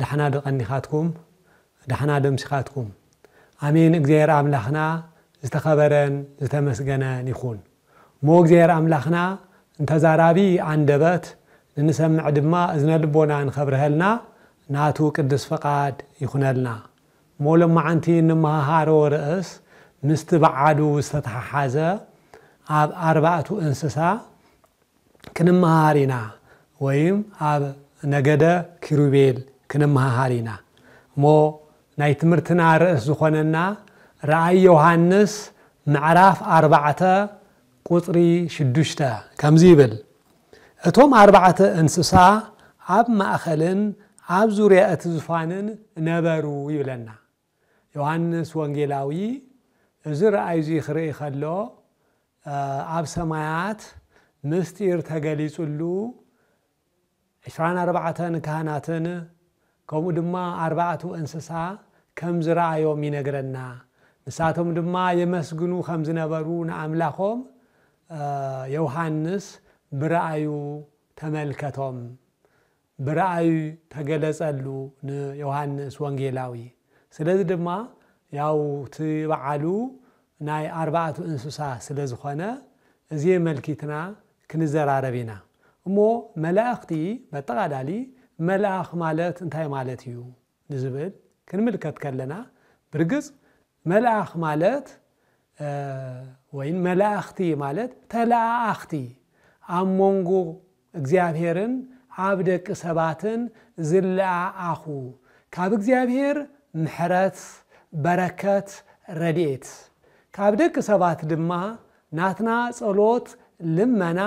ዳሕና ዶ ቀኒካትኩም ዳሕና ዶ ኣምሲካትኩም ኣሜን እግዚኣብሔር ኣምላክና ዝተከበረን ዝተመስገነን ይኩን እሞ እግዚኣብሔር ኣምላክና ንተዛራቢ ኣንደበት ንንሰምዕ ድማ እዝነ ልቦና ንከብርሀልና ናቱ ቅዱስ ፍቃድ ይኩነልና እሞ ሎማዓንቲ እንመሃሃሮ ርእስ ምስቲ ባዓሉ ዝተተሓሓዘ ኣብ ኣርባእቱ እንስሳ ክንመሃሃር ኢና ወይም ኣብ ነገደ ኪሩቤል ክንመሃሃር ኢና እሞ ናይ ትምህርትና ርእስ ዝኾነና ራእይ ዮሃንስ ምዕራፍ ኣርባዕተ ቁጽሪ ሽዱሽተ ከምዚ ይብል እቶም ኣርባዕተ እንስሳ ኣብ ማእኸልን ኣብ ዙርያ እቲ ዙፋንን ነበሩ ይብለና ዮሃንስ ወንጌላዊ እዚ ራእይ እዚ ኺርኢ ኸሎ፣ ኣብ ሰማያት ምስጢር ተገሊጹሉ፣ ዕስራን ኣርባዕተን ካህናትን ከምኡ ድማ ኣርባዕቱ እንስሳ ከም ዝረኣዮም ይነግረና። ንሳቶም ድማ የመስግኑ ኸም ዝነበሩ ንኣምላኾም ዮሃንስ ብራእዩ ተመልከቶም። ብራእይ ተገለጸሉ ንዮሃንስ ወንጌላዊ። ስለዚ ድማ ያው እቲ በዓሉ ናይ ኣርባዕቱ እንስሳ ስለ ዝኾነ እዚ የመልኪትና ክንዘራረብ ኢና። እሞ መላእኽቲ በጠቓላሊ መልኣኽ ማለት እንታይ ማለት እዩ ንዝብል ክንምልከት ከለና ብርግጽ መልኣኽ ማለት ወይን መላእኽቲ ማለት ተለኣኣኽቲ ኣብ መንጎ እግዚኣብሔርን ኣብ ደቂ ሰባትን ዝለኣ ኣኹ ካብ እግዚኣብሔር ምሕረት በረከት ረድኤት ካብ ደቂ ሰባት ድማ ናትና ጸሎት ልመና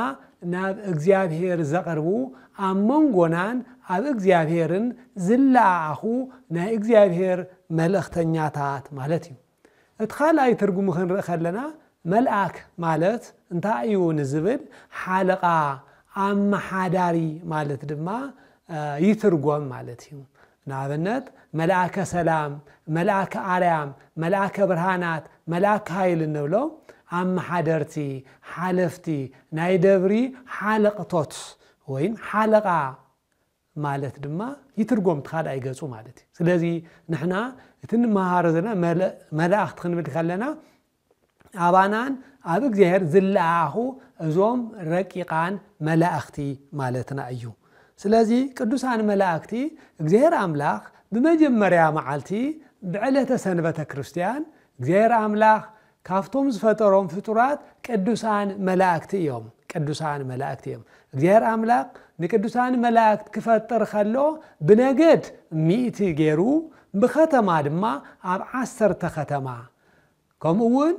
ናብ እግዚኣብሔር ዘቅርቡ ኣብ መንጎናን ኣብ እግዚኣብሔርን ዝለኣ ኣኹ ናይ እግዚኣብሔር መልእክተኛታት ማለት እዩ። እቲ ካልኣይ ትርጉሙ ክንርኢ ከለና መልኣክ ማለት እንታይ እዩ ንዝብል ሓለቓ፣ ኣመሓዳሪ ማለት ድማ ይትርጎም ማለት እዩ። ንኣብነት መልኣከ ሰላም፣ መልኣከ ኣርያም፣ መልኣከ ብርሃናት፣ መልኣከ ሃይል እንብሎም ኣመሓደርቲ፣ ሓለፍቲ፣ ናይ ደብሪ ሓለቕቶት ወይም ሓለቓ ማለት ድማ ይትርጎም እቲ ካልኣይ ገፁ ማለት እዩ። ስለዚ ንሕና እቲ ንመሃሮ ዘለና መላእኽቲ ክንብል ከለና ኣባናን ኣብ እግዚኣብሔር ዝለኣኣኹ እዞም ረቂቃን መላእኽቲ ማለትና እዩ። ስለዚ ቅዱሳን መላእክቲ እግዚኣብሔር ኣምላኽ ብመጀመርያ መዓልቲ ብዕለተ ሰንበተ ክርስቲያን እግዚኣብሔር ኣምላኽ ካብቶም ዝፈጠሮም ፍጡራት ቅዱሳን መላእክቲ እዮም። ቅዱሳን መላእክቲ እዮም። እግዚኣብሔር ኣምላኽ ንቅዱሳን መላእክት ክፈጥር ከሎ ብነገድ ሚእቲ ገይሩ ብከተማ ድማ ኣብ ዓሰርተ ከተማ ከምኡ እውን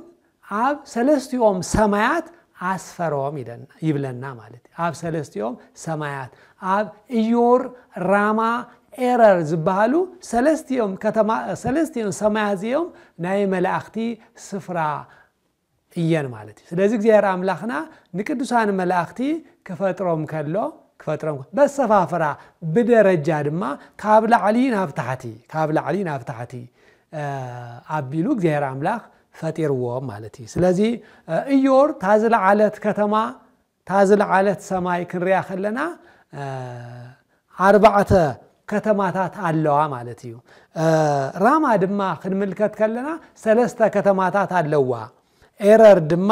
ኣብ ሰለስቲኦም ሰማያት ኣስፈሮም ኢለና ይብለና ማለት እዩ። ኣብ ሰለስቲኦም ሰማያት ኣብ እዮር ራማ ኤረር ዝበሃሉ ሰለስቲኦም ከተማ ሰለስቲኦም ሰማያት እዚኦም ናይ መላእኽቲ ስፍራ እየን ማለት እዩ። ስለዚ እግዚኣብሔር ኣምላኽና ንቅዱሳን መላእኽቲ ክፈጥሮም ከሎ ክፈጥሮም በሰፋፍራ ብደረጃ ድማ ካብ ላዕሊ ናብ ታሕቲ ካብ ላዕሊ ናብ ታሕቲ ኣቢሉ እግዚኣብሔር ኣምላኽ ፈጢርዎ ማለት እዩ ስለዚ እዮር እታ ዝለዓለት ከተማ እታ ዝለዓለት ሰማይ ክንሪያ ከለና ኣርባዕተ ከተማታት ኣለዋ ማለት እዩ ራማ ድማ ክንምልከት ከለና ሰለስተ ከተማታት ኣለዋ ኤረር ድማ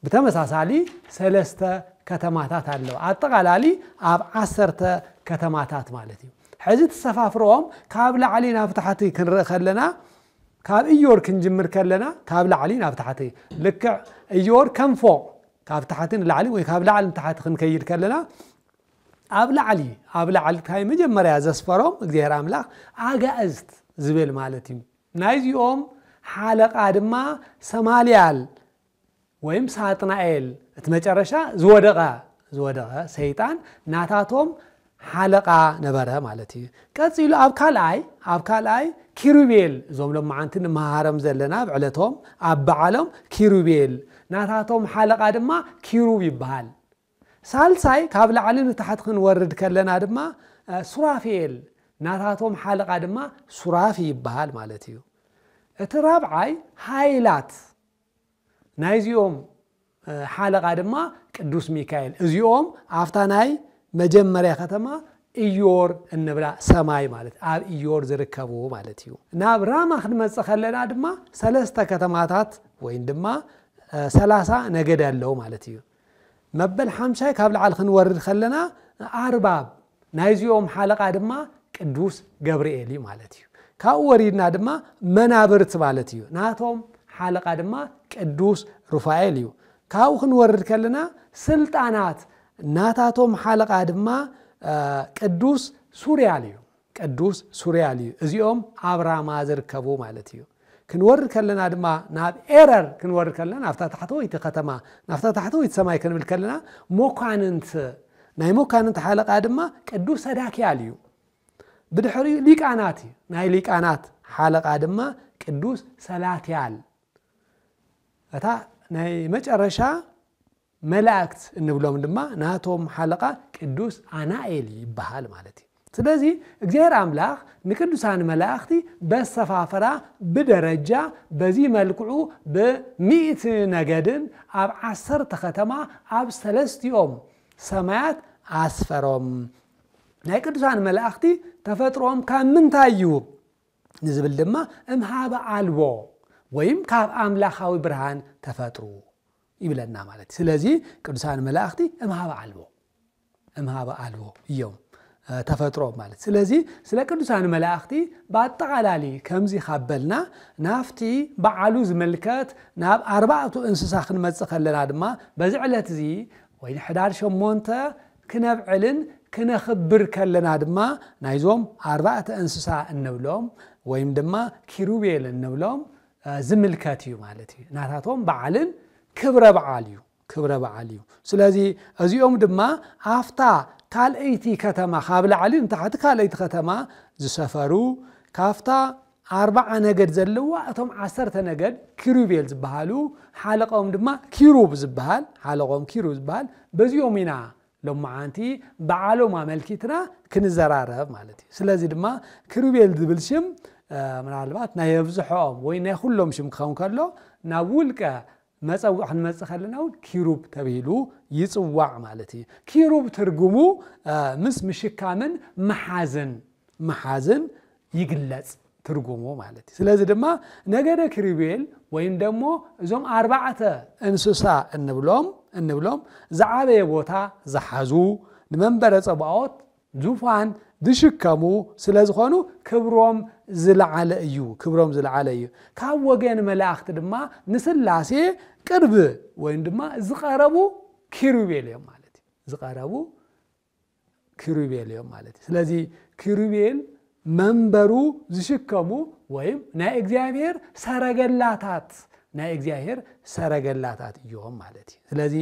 ብተመሳሳሊ ሰለስተ ከተማታት ኣለዋ። ኣጠቓላሊ ኣብ ዓሰርተ ከተማታት ማለት እዩ። ሕዚ ትሰፋፍሮም ካብ ላዕሊ ናብ ታሕቲ ክንርኢ ከለና ካብ እዮር ክንጅምር ከለና ካብ ላዕሊ ናብ ታሕቲ ልክዕ እዮር ከም ፎቕ ካብ ታሕቲ ንላዕሊ ወይ ካብ ላዕሊ ንታሕቲ ክንከይድ ከለና ኣብ ላዕሊ ኣብ ላዕሊ እንታይ መጀመርያ ዘስፈሮም እግዚኣብሔር ኣምላኽ ኣጋእዝት ዝብል ማለት እዩ ናይዚኦም ሓለቃ ድማ ሰማልያል ወይም ሳጥናኤል እቲ መጨረሻ ዝወደቐ ዝወደቐ ሰይጣን ናታቶም ሓለቓ ነበረ ማለት እዩ ቀፂሉ ኣብ ካልኣይ ኣብ ካልኣይ ኪሩቤል እዞም ሎማዓንቲ ንመሃሮም ዘለና ኣብ ዕለቶም ኣብ በዓሎም ኪሩቤል ናታቶም ሓለቓ ድማ ኪሩብ ይበሃል ሳልሳይ ካብ ላዕሊ ንታሕቲ ክንወርድ ከለና ድማ ሱራፌል ናታቶም ሓለቓ ድማ ሱራፊ ይበሃል ማለት እዩ እቲ ራብዓይ ሃይላት ናይዚኦም ሓለቓ ድማ ቅዱስ ሚካኤል እዚኦም ኣብታ ናይ መጀመርያ ከተማ ኢዮር እንብላ ሰማይ ማለት ኣብ ኢዮር ዝርከቡ ማለት እዩ ናብ ራማ ክንመፅእ ከለና ድማ ሰለስተ ከተማታት ወይም ድማ ሰላሳ ነገድ ኣለዉ ማለት እዩ መበል ሓምሳይ ካብ ላዕሊ ክንወርድ ከለና ኣርባብ ናይዚኦም ሓለቓ ድማ ቅዱስ ገብርኤል እዩ ማለት እዩ ካብኡ ወሪድና ድማ መናብርት ማለት እዩ ናቶም ሓለቓ ድማ ቅዱስ ሩፋኤል እዩ ካብኡ ክንወርድ ከለና ስልጣናት ናታቶም ሓለቓ ድማ ቅዱስ ሱርያል እዩ ቅዱስ ሱርያል እዩ። እዚኦም ኣብ ራማ ዝርከቡ ማለት እዩ። ክንወርድ ከለና ድማ ናብ ኤረር ክንወርድ ከለና ናብታ ታሕተወይቲ ከተማ ናብታ ታሕተወይቲ ሰማይ ክንብል ከለና መኳንንት ናይ መኳንንት ሓለቃ ድማ ቅዱስ ሰዳክያል እዩ። ብድሕሪኡ ሊቃናት እዩ። ናይ ሊቃናት ሓለቃ ድማ ቅዱስ ሰላትያል እታ ናይ መጨረሻ መላእክት እንብሎም ድማ ናቶም ሓለቓ ቅዱስ ኣናኤል ይበሃል ማለት እዩ። ስለዚ እግዚኣብሔር ኣምላኽ ንቅዱሳን መላእኽቲ በሰፋፍራ ብደረጃ በዚ መልክዑ ብሚእቲ ነገድን ኣብ ዓሰርተ ከተማ ኣብ ሰለስቲኦም ሰማያት ኣስፈሮም። ናይ ቅዱሳን መላእኽቲ ተፈጥሮኦም ካብ ምንታይ እዩ ንዝብል ድማ እምሃበ ኣልቦ ወይም ካብ ኣምላኻዊ ብርሃን ተፈጥሩ ይብለና ማለት ስለዚ ቅዱሳን መላእኽቲ እምሃበ ኣልቦ እምሃበ ኣልቦ እዮም ተፈጥሮ ማለት ስለዚ ስለ ቅዱሳን መላእኽቲ ብኣጠቓላሊ ከምዚ ካበልና ናፍቲ በዓሉ ዝምልከት ናብ ኣርባዕቱ እንስሳ ክንመፅእ ከለና ድማ በዚ ዕለት እዚ ወይ ንሕዳር ሸሞንተ ክነብዕልን ክነኽብር ከለና ድማ ናይዞም ኣርባዕተ እንስሳ እንብሎም ወይም ድማ ኪሩቤል እንብሎም ዝምልከት እዩ ማለት እዩ ናታቶም በዓልን ክብረ በዓል እዩ ክብረ በዓል እዩ ስለዚ እዚኦም ድማ ኣፍታ ካልእይቲ ከተማ ካብ ላዕሊ ንታሕቲ ካልእይቲ ከተማ ዝሰፈሩ ካብታ ኣርባዓ ነገድ ዘለዋ እቶም ዓሰርተ ነገድ ኪሩቤል ዝበሃሉ ሓለቆም ድማ ኪሩብ ዝበሃል ሓለቆም ኪሩብ ዝበሃል በዚኦም ኢና ሎምዓንቲ ብዓሎም ኣመልኪትና ክንዘራረብ ማለት እዩ። ስለዚ ድማ ክሩቤል ዝብል ሽም ምናልባት ናይ ኣብዝሖኦም ወይ ናይ ኩሎም ሽም ክኸውን ከሎ ናብ ውልቀ መፀውዕ ክንመፅእ ከለና እውን ኪሩብ ተብሂሉ ይፅዋዕ ማለት እዩ። ኪሩብ ትርጉሙ ምስ ምሽካምን ምሓዝን ምሓዝን ይግለጽ ትርጉሙ ማለት እዩ። ስለዚ ድማ ነገደ ኪሩቤል ወይም ደሞ እዞም ኣርባዕተ እንስሳ እንብሎም እንብሎም ዝዓበየ ቦታ ዝሓዙ ንመንበረ ጸባዖት ዙፋን ዝሽከሙ ስለ ዝኾኑ ክብሮም ዝለዓለ እዩ ክብሮም ዝለዓለ እዩ ካብ ወገን መላእኽቲ ድማ ንስላሴ ቅርብ ወይም ድማ ዝቐረቡ ኪሩቤል እዮም ማለት እዩ ዝቐረቡ ኪሩቤል እዮም ማለት እዩ። ስለዚ ኪሩቤል መንበሩ ዝሽከሙ ወይም ናይ እግዚኣብሔር ሰረገላታት ናይ እግዚኣብሔር ሰረገላታት እዮም ማለት እዩ። ስለዚ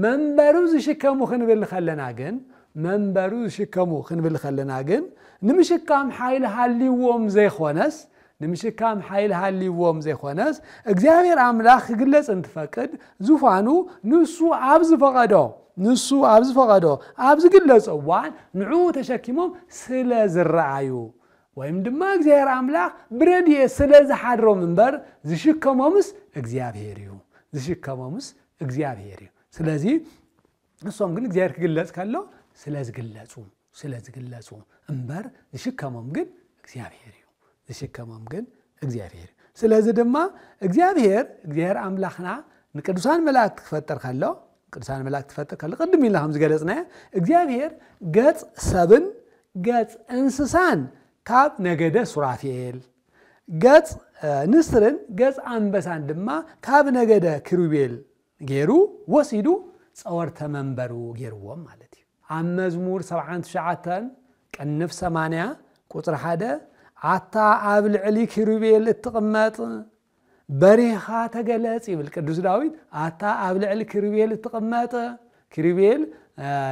መንበሩ ዝሽከሙ ክንብል ከለና ግን መንበሩ ዝሽከሙ ክንብል ከለና ግን ንምሽካም ሓይሊ ሃልዎም ዘይኮነስ ንምሽካም ሓይሊ ሃልይዎም ዘይኮነስ እግዚኣብሔር ኣምላኽ ክግለጽ እንትፈቅድ ዙፋኑ ንሱ ኣብ ዝፈቐዶ ንሱ ኣብ ዝፈቐዶ ኣብ ዝግለጾ እዋን ንዕኡ ተሸኪሞም ስለ ዝረኣዩ ወይም ድማ እግዚኣብሔር ኣምላኽ ብረድኤት ስለ ዝሓድሮም እምበር ዝሽከሞምስ እግዚኣብሔር እዩ ዝሽከሞምስ እግዚኣብሔር እዩ ስለዚ ንሶም ግን እግዚኣብሔር ክግለጽ ከሎ ስለ ዝግለጹ ስለ ዝግለጹ እምበር ዝሽከሞም ግን እግዚኣብሔር እዩ ዝሽከሞም ግን እግዚኣብሔር እዩ ስለዚ ድማ እግዚኣብሔር እግዚኣብሔር ኣምላኽና ንቅዱሳን መላእክቲ ክፈጥር ከሎ ቅዱሳን መላእክቲ ክፈጥር ከሎ ቅድም ኢልና ከም ዝገለጽናዮ እግዚኣብሔር ገጽ ሰብን ገጽ እንስሳን ካብ ነገደ ሱራፌል ገጽ ንስርን ገጽ ኣንበሳን ድማ ካብ ነገደ ክሩቤል ገይሩ ወሲዱ ጸወርተ መንበሩ ገይርዎም ማለት እዩ ኣብ መዝሙር ሰብዓን ትሽዓተን ቅንፍ ሰማንያ ቁጽሪ ሓደ ኣታ ኣብ ልዕሊ ኪሩቤል እትቕመጥ በሪኻ ተገለጽ ይብል ቅዱስ ዳዊት ኣታ ኣብ ልዕሊ ኪሩቤል እትቕመጥ ኪሩቤል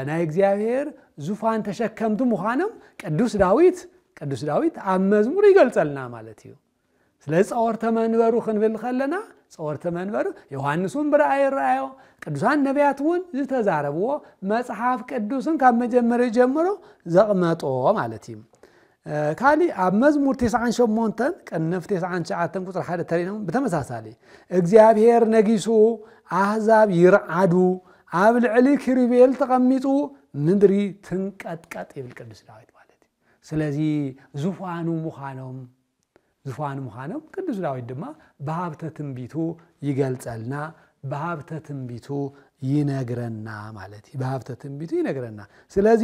ናይ እግዚኣብሔር ዙፋን ተሸከምቲ ምዃኖም ቅዱስ ዳዊት ቅዱስ ዳዊት ኣብ መዝሙር ይገልጸልና ማለት እዩ ስለዚ ጸወርተ መንበሩ ክንብል ከለና ጸወርተ መንበሩ ዮሃንስ እውን ብረኣይ ይረኣዮ ቅዱሳን ነቢያት እውን ዝተዛረብዎ መጽሓፍ ቅዱስን ካብ መጀመሪ ጀምሮ ዘቕመጦ ማለት እዩ ካሊእ ኣብ መዝሙር 98 ቅንፍ 99 ቁፅሪ ሓደ ተሪኖም ብተመሳሳሊ እግዚኣብሔር ነጊሱ ኣህዛብ ይርዓዱ ኣብ ልዕሊ ክሪቤል ተቐሚጡ ምድሪ ትንቀጥቀጥ ይብል ቅዱስ ዳዊት ማለት እዩ ስለዚ ዝፋኑ ምዃኖም ዝፋን ምዃኖም ቅዱስ ዳዊት ድማ ብሃብተ ትንቢቱ ይገልጸልና ብሃብተ ትንቢቱ ይነግረና ማለት እዩ ብሃብተ ትንቢቱ ይነግረና ስለዚ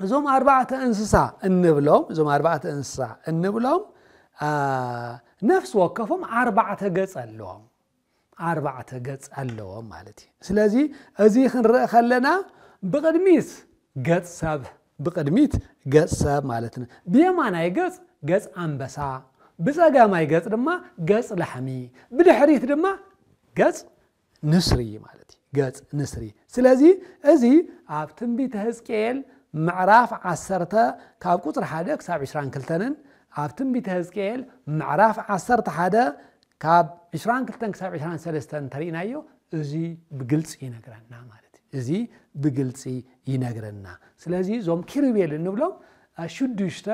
እዞም ኣርባዕተ እንስሳ እንብሎም እዞም ኣርባዕተ እንስሳ እንብሎም ነፍሲ ወከፎም ኣርባዕተ ገጽ ኣለዎም ኣርባዕተ ገጽ ኣለዎም ማለት እዩ ስለዚ እዚ ክንርኢ ከለና ብቕድሚት ገጽ ሰብ ብቕድሚት ገጽ ሰብ ማለት ን ብየማናይ ገጽ ገጽ ኣንበሳ ብጸጋማይ ገጽ ድማ ገጽ ላሕሚ ብድሕሪት ድማ ገጽ ንስሪ ማለት እዩ ገጽ ንስሪ ስለዚ እዚ ኣብ ትንቢተ ህዝቅኤል ምዕራፍ ዓሰርተ ካብ ቁፅሪ ሓደ ክሳብ ዕስራን ክልተንን ኣብ ትንቢተ ህዝቅኤል ምዕራፍ ዓሰርተ ሓደ ካብ ዕስራን ክልተን ክሳብ ዕስራን ሰለስተን እንተሪእናዮ እዚ ብግልፂ ይነግረና ማለት እዩ እዚ ብግልፂ ይነግረና ስለዚ እዞም ኪሩቤል እንብሎም ሽዱሽተ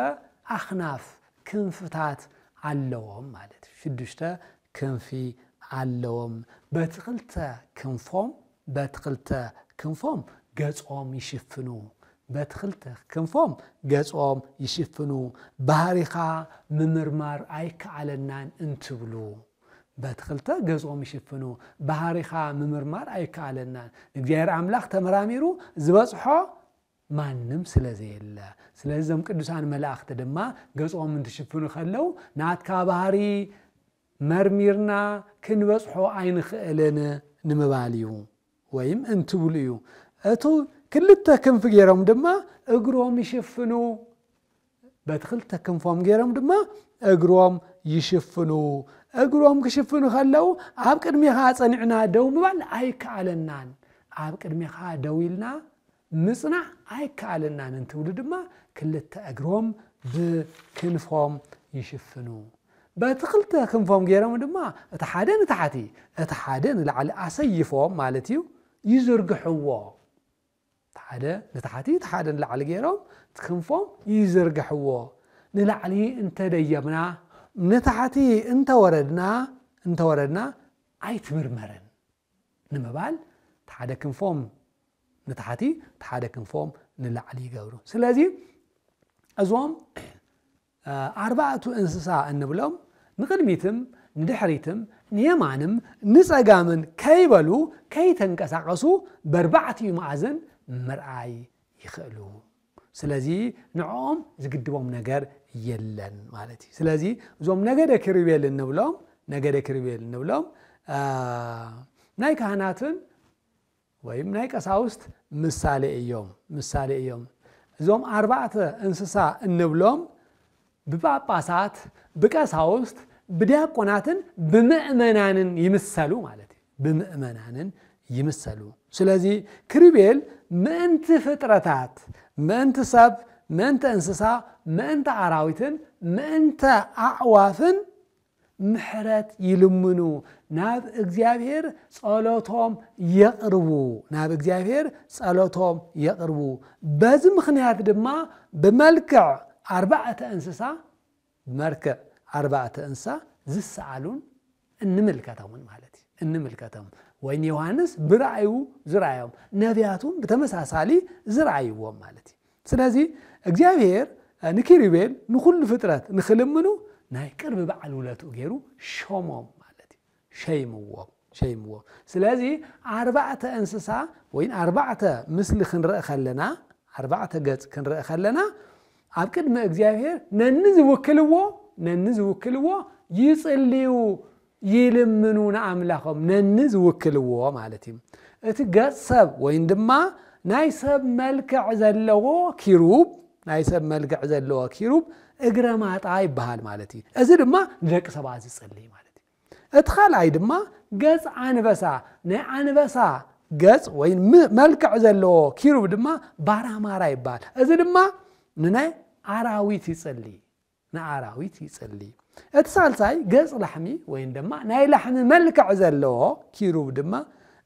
ኣኽናፍ ክንፍታት ኣለዎም ማለት እዩ ሽዱሽተ ክንፊ ኣለዎም በቲ ክልተ ክንፎም በቲ ክልተ ክንፎም ገጾም ይሽፍኑ በቲ ክልተ ክንፎም ገጾም ይሽፍኑ ባህሪኻ ምምርማር ኣይከኣለናን እንትብሉ በቲ ክልተ ገጾም ይሽፍኑ ባህሪኻ ምምርማር ኣይከኣለናን ንእግዚኣብሔር ኣምላኽ ተመራሚሩ ዝበጽሖ ማንም ስለ ዘየለ ስለዚ እዞም ቅዱሳን መላእኽቲ ድማ ገጾም እንትሽፍኑ ከለው ናትካ ባህሪ መርሚርና ክንበጽሖ ኣይንኽእልን ንምባል እዩ ወይም እንትብሉ እዩ። እቱ ክልተ ክንፊ ገይሮም ድማ እግሮም ይሽፍኑ። በቲ ክልተ ክንፎም ገይሮም ድማ እግሮም ይሽፍኑ። እግሮም ክሽፍኑ ከለው ኣብ ቅድሜኻ ጸኒዕና ደው ምባል ኣይከኣለናን። ኣብ ቅድሜኻ ደው ኢልና ምጽናዕ ኣይከኣለናን እንትብሉ ድማ ክልተ እግሮም ብክንፎም ይሽፍኑ። በቲ ክልተ ክንፎም ገይሮም ድማ እቲ ሓደ ንታሕቲ እቲ ሓደ ንላዕሊ ኣሰይፎም ማለት እዩ ይዝርግሕዎ። እቲ ሓደ ንታሕቲ እቲ ሓደ ንላዕሊ ገይሮም እቲ ክንፎም ይዝርግሕዎ። ንላዕሊ እንተደየብና ንታሕቲ እንተወረድና እንተወረድና ኣይትምርመርን ንምባል እቲ ሓደ ክንፎም ንታሕቲ እቲ ሓደ ክንፎም ንላዕሊ ይገብሩ። ስለዚ እዞም ኣርባዕቱ እንስሳ እንብሎም ንቕድሚትም ንድሕሪትም ንየማንም ንፀጋምን ከይበሉ ከይተንቀሳቐሱ በርባዕቲኡ መኣዝን ምርኣይ ይኽእሉ ስለዚ ንዕኦም ዝግድቦም ነገር የለን ማለት እዩ ስለዚ እዞም ነገደ ክሪቤል እንብሎም ነገደ ክሪቤል እንብሎም ናይ ካህናትን ወይም ናይ ቀሳውስት ምሳሌ እዮም ምሳሌ እዮም እዞም ኣርባዕተ እንስሳ እንብሎም ብጳጳሳት፣ ብቀሳውስት፣ ብዲያቆናትን ብምእመናንን ይምሰሉ ማለት እዩ። ብምእመናንን ይምሰሉ። ስለዚ ክሪቤል ምእንቲ ፍጥረታት፣ ምእንቲ ሰብ፣ ምእንቲ እንስሳ፣ ምእንቲ ኣራዊትን ምእንተ ኣዕዋፍን ምሕረት ይልምኑ፣ ናብ እግዚኣብሔር ጸሎቶም የቕርቡ ናብ እግዚኣብሔር ጸሎቶም የቕርቡ። በዚ ምኽንያት ድማ ብመልክዕ ኣርባዕተ እንስሳ ብመልክዕ ኣርባዕተ እንስሳ ዝሰኣሉን እንምልከተውን ማለት እዩ እንምልከቶም ወይን ዮሃንስ ብራእዩ ዝረኣዮም ነቢያቱም ብተመሳሳሊ ዝረኣይዎም ማለት እዩ ስለዚ እግዚኣብሄር ንኪሩቤል ንኹሉ ፍጥረት ንኽልምኑ ናይ ቅርቢ በዓል ውለትኡ ገይሩ ሾሞም ማለት እዩ ሸይምዎም ሸይምዎም ስለዚ ኣርባዕተ እንስሳ ወይ ኣርባዕተ ምስሊ ክንርኢ ከለና ኣርባዕተ ገጽ ክንርኢ ከለና ኣብ ቅድሚ እግዚኣብሄር ነኒ ዝውክልዎ ነኒ ዝውክልዎ ይጽልዩ ይልምኑ ንኣምላኾም ነኒ ዝውክልዎ ማለት እዩ። እቲ ገጽ ሰብ ወይን ድማ ናይ ሰብ መልክዕ ዘለዎ ኪሩብ ናይ ሰብ መልክዕ ዘለዎ ኪሩብ እግረ ማጣ ይበሃል ማለት እዩ። እዚ ድማ ንደቂ ሰባት ዝጽልይ ማለት እዩ። እቲ ካልኣይ ድማ ገጽ ኣንበሳ ናይ ኣንበሳ ገጽ ወይ መልክዕ ዘለዎ ኪሩብ ድማ ባራማራ ይበሃል። እዚ ድማ ንናይ ኣራዊት ይጽልይ ንኣራዊት ይጽሊ። እቲ ሳልሳይ ገጽ ላሕሚ ወይም ድማ ናይ ላሕሚ መልክዕ ዘለዎ ኪሩብ ድማ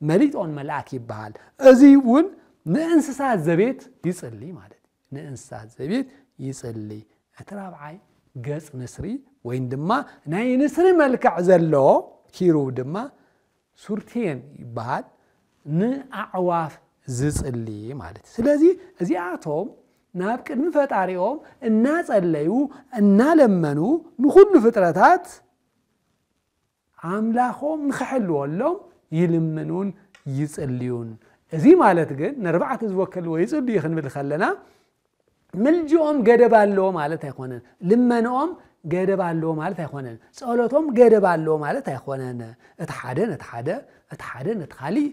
መሊጦን መልኣክ ይበሃል። እዙይ እውን ንእንስሳት ዘቤት ይጽሊ ማለት እዩ። ንእንስሳት ዘቤት ይጽሊ። እቲ ራብዓይ ገጽ ንስሪ ወይም ድማ ናይ ንስሪ መልክዕ ዘለዎ ኪሩብ ድማ ሱርቴን ይበሃል ንኣዕዋፍ ዝጽሊ ማለት እዩ ስለዚ እዚኣቶም ናብ ቅድሚ ፈጣሪኦም እናጸለዩ እናለመኑ ንኹሉ ፍጥረታት ኣምላኾም ንኽሕልወሎም ይልምኑን ይጽልዩን እዚ ማለት ግን ነርባዕተ ዝወከልዎ ይጽልዩ ክንብል ከለና ምልጅኦም ገደብ ኣለዎ ማለት ኣይኮነን ልመንኦም ገደብ ኣለዎ ማለት ኣይኮነን ጸሎቶም ገደብ ኣለዎ ማለት ኣይኮነን እቲ ሓደ ነቲ ሓደ እቲ ሓደ ነቲ ካሊእ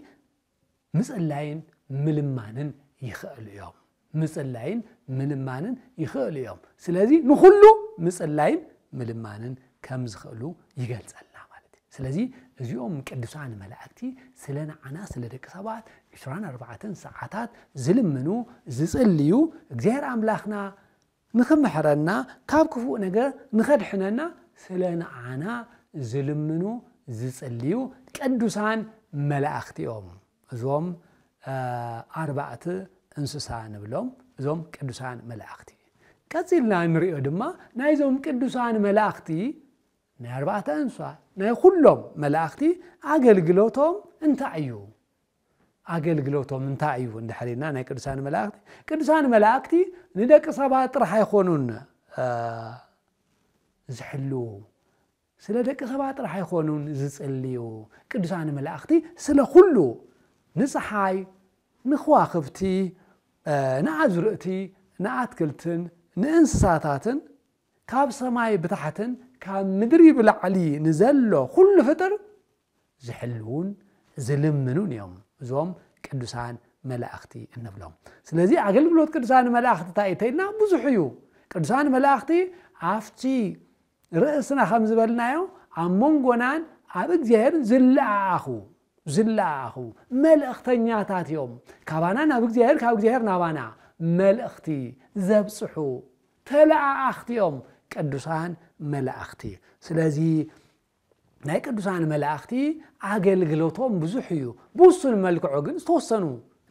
ምጽላይን ምልማንን ይኽእሉ እዮም ምጽላይን ምልማንን ይኽእሉ እዮም ስለዚ ንኹሉ ምጽላይን ምልማንን ከም ዝኽእሉ ይገልጸልና ማለት እዩ። ስለዚ እዚኦም ቅዱሳን መላእክቲ ስለ ንዓና ስለ ደቂ ሰባት ዕስራን ኣርባዕተን ሰዓታት ዝልምኑ ዝጽልዩ እግዚኣብሔር ኣምላኽና ንኽምሕረና ካብ ክፉእ ነገር ንኸድሕነና ስለ ንዓና ዝልምኑ ዝጽልዩ ቅዱሳን መላእክቲ እዮም። እዞም ኣርባእት እንስሳ ንብሎም እዞም ቅዱሳን መላእኽቲ ቀጺልና እንሪኦ ድማ ናይዞም ቅዱሳን መላእኽቲ ናይ ኣርባዕተ እንስሳ ናይ ኩሎም መላእኽቲ ኣገልግሎቶም እንታይ እዩ? ኣገልግሎቶም እንታይ እዩ እንድሕሪና ናይ ቅዱሳን መላእክቲ ቅዱሳን መላእክቲ ንደቂ ሰባት ጥራሕ ኣይኮኑን ዝሕልው ስለ ደቂ ኸባ ጥራሕ ኣይኮኑን ዝጽልዩ ቅዱሳን መላእኽቲ ስለ ኹሉ ንጸሓይ ንኽዋኽብቲ ንኣዝርእቲ ንኣትክልትን ንእንስሳታትን ካብ ሰማይ ብታሕትን ካብ ምድሪ ብላዕሊ ንዘሎ ኹሉ ፍጥር ዝሕልዉን ዝልምኑን እዮም እዞም ቅዱሳን መላእኽቲ እንብሎም ስለዚ ኣገልግሎት ቅዱሳን መላእኽቲ እንታይ እዩ እንተይልና ብዙሕ እዩ ቅዱሳን መላእኽቲ ኣብቲ ርእስና ከም ዝበልናዮ ኣብ መንጎናን ኣብ እግዚኣብሔርን ዝለኣኣኹ ዝለኣኣኹ መልእኽተኛታት እዮም። ካባና ናብ እግዚኣብሔር ካብ እግዚኣብሔር ናባና መልእኽቲ ዘብጽሑ ተለኣኣኽቲ እዮም ቅዱሳን መላእኽቲ። ስለዚ ናይ ቅዱሳን መላእኽቲ ኣገልግሎቶም ብዙሕ እዩ። ብውሱን መልክዑ ግን ዝተወሰኑ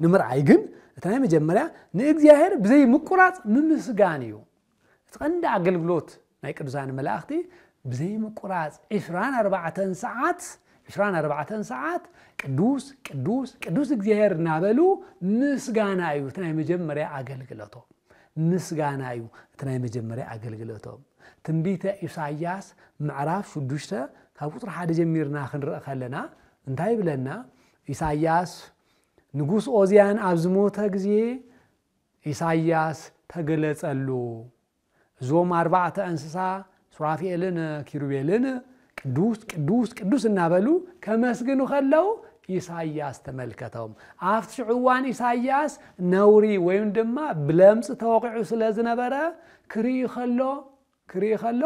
ንምርኣይ ግን እቲ ናይ መጀመርያ ንእግዚኣብሔር ብዘይ ምቁራፅ ምምስጋን እዩ። እቲ ቀንዲ ኣገልግሎት ናይ ቅዱሳን መላእኽቲ ብዘይምቁራጽ ዕስራን ኣርባዕተን ሰዓት ዕስራን ኣርባዕተን ሰዓት ቅዱስ ቅዱስ ቅዱስ እግዚኣብሔር እናበሉ ምስጋና እዩ እቲ ናይ መጀመርያ ኣገልግሎቶም ምስጋና እዩ እቲ ናይ መጀመርያ ኣገልግሎቶም ትንቢተ ኢሳያስ ምዕራፍ ሽዱሽተ ካብ ቁፅሪ ሓደ ጀሚርና ክንርኢ ከለና እንታይ ይብለና ኢሳያስ ንጉስ ኦዝያን ኣብ ዝሞተ ግዜ ኢሳይያስ ተገለጸሉ። እዞም ኣርባዕተ እንስሳ ሱራፌልን ኪሩቤልን ቅዱስ ቅዱስ ቅዱስ እናበሉ ከመስግኑ ከለው ኢሳይያስ ተመልከቶም። ኣብቲ ሽዑ እዋን ኢሳይያስ ነውሪ ወይም ድማ ብለምፂ ተወቂዑ ስለ ዝነበረ ክርኢ ከሎ ክርኢ ከሎ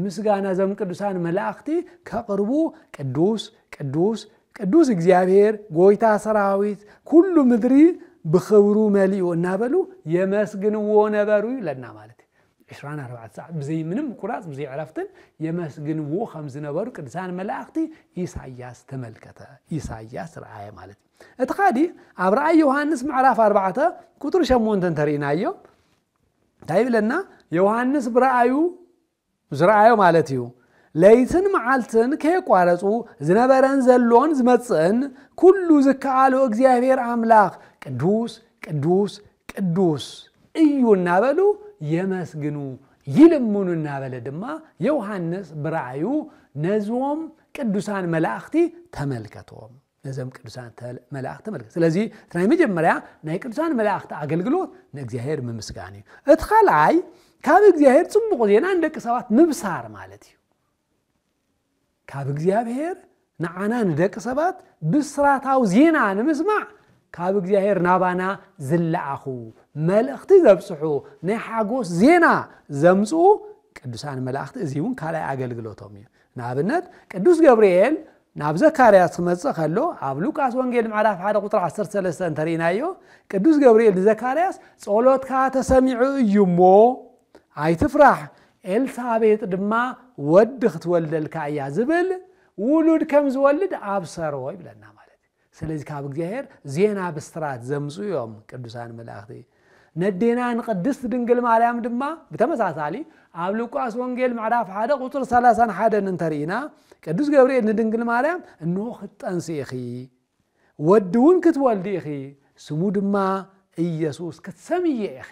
ምስጋና እዞም ቅዱሳን መላእኽቲ ከቕርቡ ቅዱስ ቅዱስ ቅዱስ እግዚኣብሔር ጎይታ ሰራዊት ኩሉ ምድሪ ብኽብሩ መሊኡ እናበሉ የመስግንዎ ነበሩ ይብለና ማለት እዩ። ዕስራን ኣርባዕተ ሰዓት ብዘይ ምንም ምቁራፅ ብዘይ ዕረፍትን የመስግንዎ ከም ዝነበሩ ቅዱሳን መላእኽቲ ኢሳያስ ተመልከተ ኢሳያስ ረኣየ ማለት እዩ። እቲ ካዲ ኣብ ራእይ ዮሃንስ ምዕራፍ ኣርባዕተ ቁጥሪ ሸሞንተ እንተርኢናዮ እንታይ ይብለና ዮሃንስ ብረኣዩ ዝረኣዮ ማለት እዩ ለይትን መዓልትን ከየቋረጹ ዝነበረን ዘሎን ዝመጽእን ኩሉ ዝከኣሎ እግዚኣብሔር ኣምላኽ ቅዱስ ቅዱስ ቅዱስ እዩ እናበሉ የመስግኑ ይልምኑ እናበለ ድማ ዮሃንስ ብረኣዩ ነዞም ቅዱሳን መላእኽቲ ተመልከቶም ነዘም ቅዱሳን ተል መላእኽቲ ተመልከት። ስለዚ እቲ ናይ መጀመርያ ናይ ቅዱሳን መላእኽቲ ኣገልግሎት ንእግዚኣብሔር ምምስጋን እዩ። እቲ ካልኣይ ካብ እግዚኣብሔር ጽቡቕ ዜና ንደቂ ሰባት ምብሳር ማለት እዩ። ካብ እግዚኣብሔር ንዓና ንደቂ ሰባት ብስራታዊ ዜና ንምስማዕ ካብ እግዚኣብሔር ናባና ዝለኣኹ መልእኽቲ ዘብጽሑ ናይ ሓጎስ ዜና ዘምጽኡ ቅዱሳን መላእኽቲ እዚ እውን ካልኣይ ኣገልግሎቶም እዩ። ንኣብነት ቅዱስ ገብርኤል ናብ ዘካርያስ ክመጽእ ከሎ ኣብ ሉቃስ ወንጌል ምዕራፍ 1 ቁጥሪ 13 እንተርኢናዮ ቅዱስ ገብርኤል ንዘካርያስ ጸሎትካ ተሰሚዑ እዩ እሞ ኣይትፍራሕ ኤልሳቤጥ ድማ ወዲ ክትወልደልካ እያ ዝብል ውሉድ ከም ዝወልድ ኣብሰሮ ይብለና ማለት ስለዚ ካብ እግዚኣብሔር ዜና ብስራት ዘምፁ እዮም ቅዱሳን መላእኽቲ ነዴና ንቅድስት ድንግል ማርያም ድማ ብተመሳሳሊ ኣብ ሉቃስ ወንጌል ምዕራፍ ሓደ ቁፅር ሰላሳን ሓደን እንተርኢና ቅዱስ ገብርኤል ንድንግል ማርያም እንሆ ክትጠንሲ ኢኺ ወዲ እውን ክትወልዲ ኢኺ ስሙ ድማ ኢየሱስ ክትሰምየ ኢኺ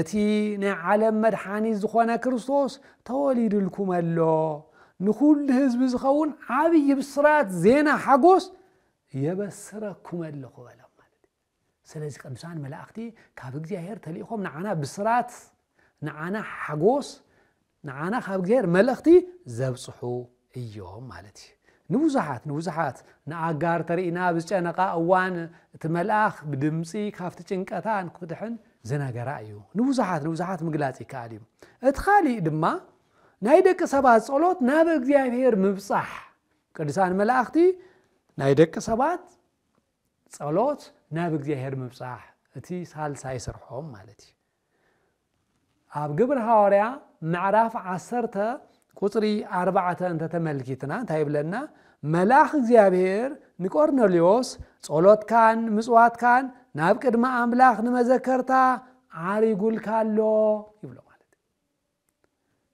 እቲ ናይ ዓለም መድሓኒት ዝኾነ ክርስቶስ ተወሊድልኩም ኣሎ። ንኹሉ ህዝቢ ዝኸውን ዓብዪ ብስራት ዜና ሓጎስ የበስረኩም ኣለኹ በለ። ስለዚ ቅዱሳን መላእኽቲ ካብ እግዚኣብሔር ተልኢኾም ንዓና ብስራት ንዓና ሓጎስ ንዓና ካብ እግዝሄር መልእኽቲ ዘብጽሑ እዮም ማለት እዩ። ንብዙሓት ንብዙሓት ንኣጋር ተርኢና ኣብ ዝጨነቃ እዋን እቲ መልኣኽ ብድምጺ ካብቲ ጭንቀታ ንክትድሕን ዝነገራ እዩ። ንብዙሓት ንብዙሓት ምግላጽ ይከኣል እዩ። እቲ ካሊእ ድማ ናይ ደቂ ሰባት ጸሎት ናብ እግዚኣብሔር ምብጻሕ ቅዱሳን መላእኽቲ ናይ ደቂ ሰባት ጸሎት ናብ እግዚኣብሔር ምብጻሕ እቲ ሳልሳይ ስርሖም ማለት እዩ። ኣብ ግብሪ ሃዋርያ ምዕራፍ ዓሰርተ ቁጽሪ ኣርባዕተ እንተ ተመልኪትና እንታይ ይብለና? መልኣኽ እግዚኣብሔር ንቆርኔሌዎስ ጸሎትካን ምጽዋትካን ናብ ቅድሚ ኣምላኽ ንመዘከርታ ዓሪጉልካ ኣሎ ይብሎ ማለት እዩ።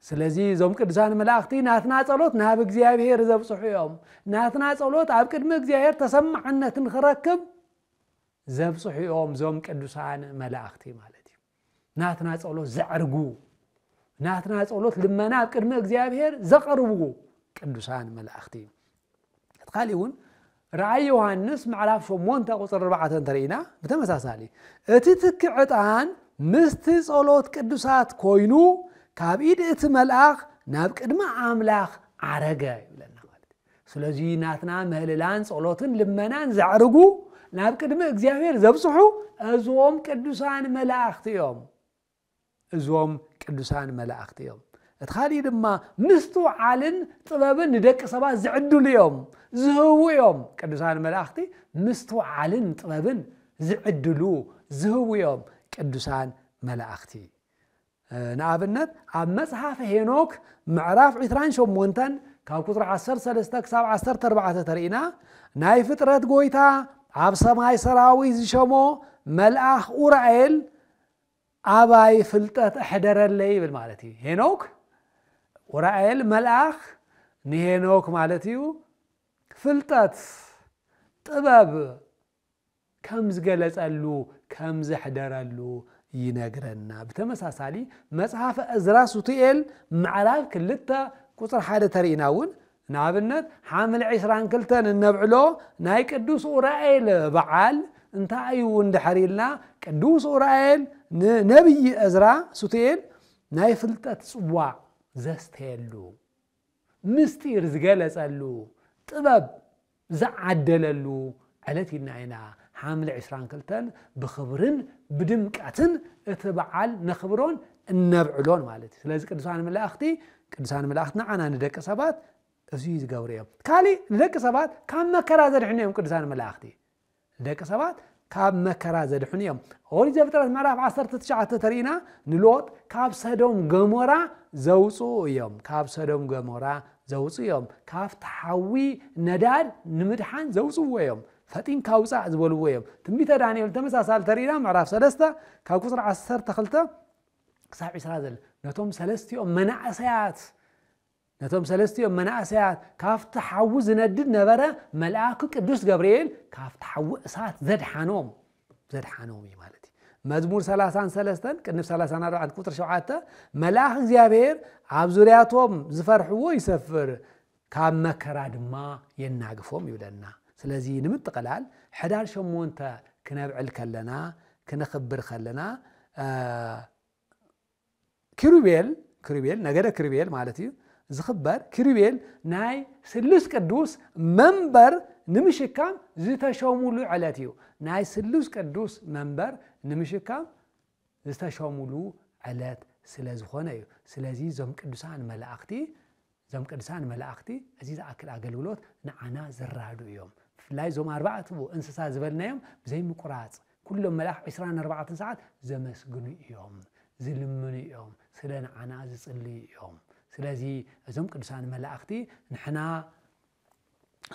ስለዚ እዞም ቅዱሳን መላእኽቲ ናትና ጸሎት ናብ እግዚኣብሔር ዘብጽሑ እዮም። ናትና ጸሎት ኣብ ቅድሚ እግዚኣብሔር ተሰማዕነት ንክረክብ ዘብጽሑ እዮም እዞም ቅዱሳን መላእኽቲ ማለት እዩ። ናትና ጸሎት ዘዕርጉ፣ ናትና ጸሎት ልመና ኣብ ቅድሚ እግዚኣብሔር ዘቐርቡ ቅዱሳን መላእኽቲ እቲ ካሊእ እውን ራእይ ዮሃንስ ምዕራፍ ሸሞንተ ቁፅሪ ኣርባዕተ እንተርኢና ብተመሳሳሊ እቲ ትኪ ዕጣን ምስቲ ጸሎት ቅዱሳት ኮይኑ ካብ ኢድ እቲ መልኣኽ ናብ ቅድሚ ኣምላኽ ዓረገ ይብለና ማለት እዩ። ስለዚ ናትና ምህልላን ጸሎትን ልመናን ዘዕርጉ ናብ ቅድሚ እግዚኣብሔር ዘብጽሑ እዞም ቅዱሳን መላእኽቲ እዮም። እዞም ቅዱሳን መላእኽቲ እዮም። እቲ ኻሊእ ድማ ምስትውዓልን ጥበብን ንደቂ ሰባት ዝዕድሉ እዮም፣ ዝህቡ እዮም። ቅዱሳን መላእኽቲ ምስትውዓልን ጥበብን ዝዕድሉ ዝህቡ እዮም። ቅዱሳን መላእኽቲ ንኣብነት ኣብ መጽሓፈ ሄኖክ ምዕራፍ 28 ካብ ቁፅሪ 13 ክሳብ 14 ተርእና ናይ ፍጥረት ጎይታ ኣብ ሰማይ ሰራዊት ዝሸሞ መልኣኽ ኡራኤል ኣባይ ፍልጠት ኣሕደረለይ ይብል ማለት እዩ። ሄኖክ ኡራኤል መልኣኽ ንሄኖክ ማለት እዩ ፍልጠት ጥበብ ከም ዝገለጸሉ ከም ዘሕደረሉ ይነግረና። ብተመሳሳሊ መጽሓፈ እዝራ ሱቱኤል ምዕራፍ ክልተ ቁጽሪ ሓደ ተሪእና እውን ንኣብነት ሓምለ ዕስራን ክልተን እነብዕሎ ናይ ቅዱስ ኡራኤል በዓል እንታይ እዩ እንድሕር ኢልና ቅዱስ ኡራኤል ንነብዪ እዝራ ሱቱኤል ናይ ፍልጠት ጽዋዕ ዘስተየሉ፣ ምስጢር ዝገለጸሉ፣ ጥበብ ዝዓደለሉ ዕለት ኢልና ኢና ሓምለ ዕስራን ክልተን ብኽብርን ብድምቀትን እቲ በዓል ነኽብሮን እነብዕሎን ማለት እዩ። ስለዚ ቅዱሳን መላእኽቲ ቅዱሳን መላእኽቲ ንዓና ንደቂ ሰባት እዙይ ዝገብሩ እዮም። ካሊእ ንደቂ ሰባት ካብ መከራ ዘድሕኑ እዮም ቅዱሳን መላእኽቲ። ንደቂ ሰባት ካብ መከራ ዘድሕኑ እዮም። ኦሪት ዘፍጥረት ምዕራፍ ዓሰርተ ትሽዓተ ተሪኢና ንሎጥ ካብ ሰዶም ገሞራ ዘውፅኡ እዮም ካብ ሰዶም ገሞራ ዘውፅኡ እዮም ካብቲ ሓዊ ነዳድ ንምድሓን ዘውፅዎ እዮም ፈጢንካ ውፃእ ዝበልዎ እዮም ትንቢተ ዳንኤል ተመሳሳሊ ተሪኢና ምዕራፍ ሰለስተ ካብ ቁፅሪ ዓሰርተ ክልተ ክሳብ ዒስራ ዘለ ነቶም ሰለስቲኦም መናእሰያት ነቶም ሰለስቲኦም መናእሰያት ካብቲ ሓዊ ዝነድድ ነበረ መልኣኩ ቅዱስ ገብርኤል ካብቲ ሓዊ እሳት ዘድሓኖም ዘድሓኖም እዩ ማለት እዩ መዝሙር 33 ቅንብ 34 ቁጥሪ 7 መልኣኽ እግዚኣብሔር ኣብ ዙርያቶም ዝፈርሕዎ ይሰፍር ካብ መከራ ድማ የናግፎም ይብለና ስለዚ ንምጥቕላል ሕዳር ሸሞንተ ክነብዕል ከለና ክነኽብር ከለና ኪሩቤል፣ ኪሩቤል፣ ነገደ ኪሩቤል ማለት እዩ፣ ዝኽበር ኪሩቤል ናይ ስሉስ ቅዱስ መንበር ንምሽካም ዝተሾሙሉ ዕለት እዩ። ናይ ስሉስ ቅዱስ መንበር ንምሽካም ዝተሾሙሉ ዕለት ስለ ዝኾነ እዩ። ስለዚ እዞም ቅዱሳን መላእኽቲ እዞም ቅድሳን መላእኽቲ እዚ ዝኣክል ኣገልግሎት ንዓና ዘራድኡ እዮም። ብፍላይ እዞም ኣርባዕቱ እንስሳ ዝበልናዮም ብዘይምቁራጽ ኩሎም መላእኽት ዕስራን ኣርባዕተን ሰዓት ዘመስግኑ እዮም፣ ዝልምኑ እዮም፣ ስለ ንዓና ዝጽልዩ እዮም። ስለዚ እዞም ቅዱሳን መላእኽቲ ንሕና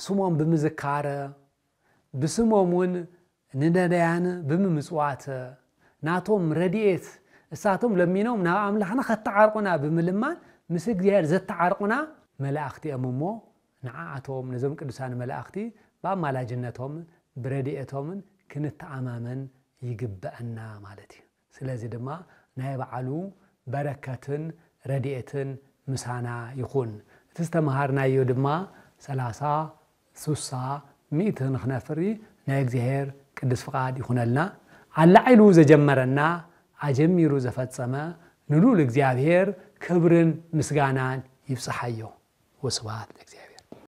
ስሞም ብምዝካር ብስሞም ውን ንነዳያን ብምምጽዋት ናቶም ረዲኤት እሳቶም ለሚኖም ናብ ኣምላኽና ከተዓርቁና ብምልማን ምስ እግዚኣብሔር ዘተዓርቁና መላእክቲ እዮም እሞ ንዓኣቶም ነዞም ቅዱሳን መላእክቲ ብኣማላጅነቶምን ብረዲኤቶምን ክንተኣማመን ይግበእና ማለት እዩ። ስለዚ ድማ ናይ በዓሉ በረከትን ረድኤትን ምሳና ይኹን። እቲ ዝተመሃርናዮ ድማ ሰላሳ፣ ሱሳ፣ ሚእቲ ንክነፍሪ ናይ እግዚኣሔር ቅድስ ፍቃድ ይኹነልና። ኣላዒሉ ዘጀመረና ኣጀሚሩ ዘፈጸመ ንልኡል እግዚኣብሔር ክብርን ምስጋናን ይብጽሓዮ። ወስብሃት ለእግዚኣብሔር።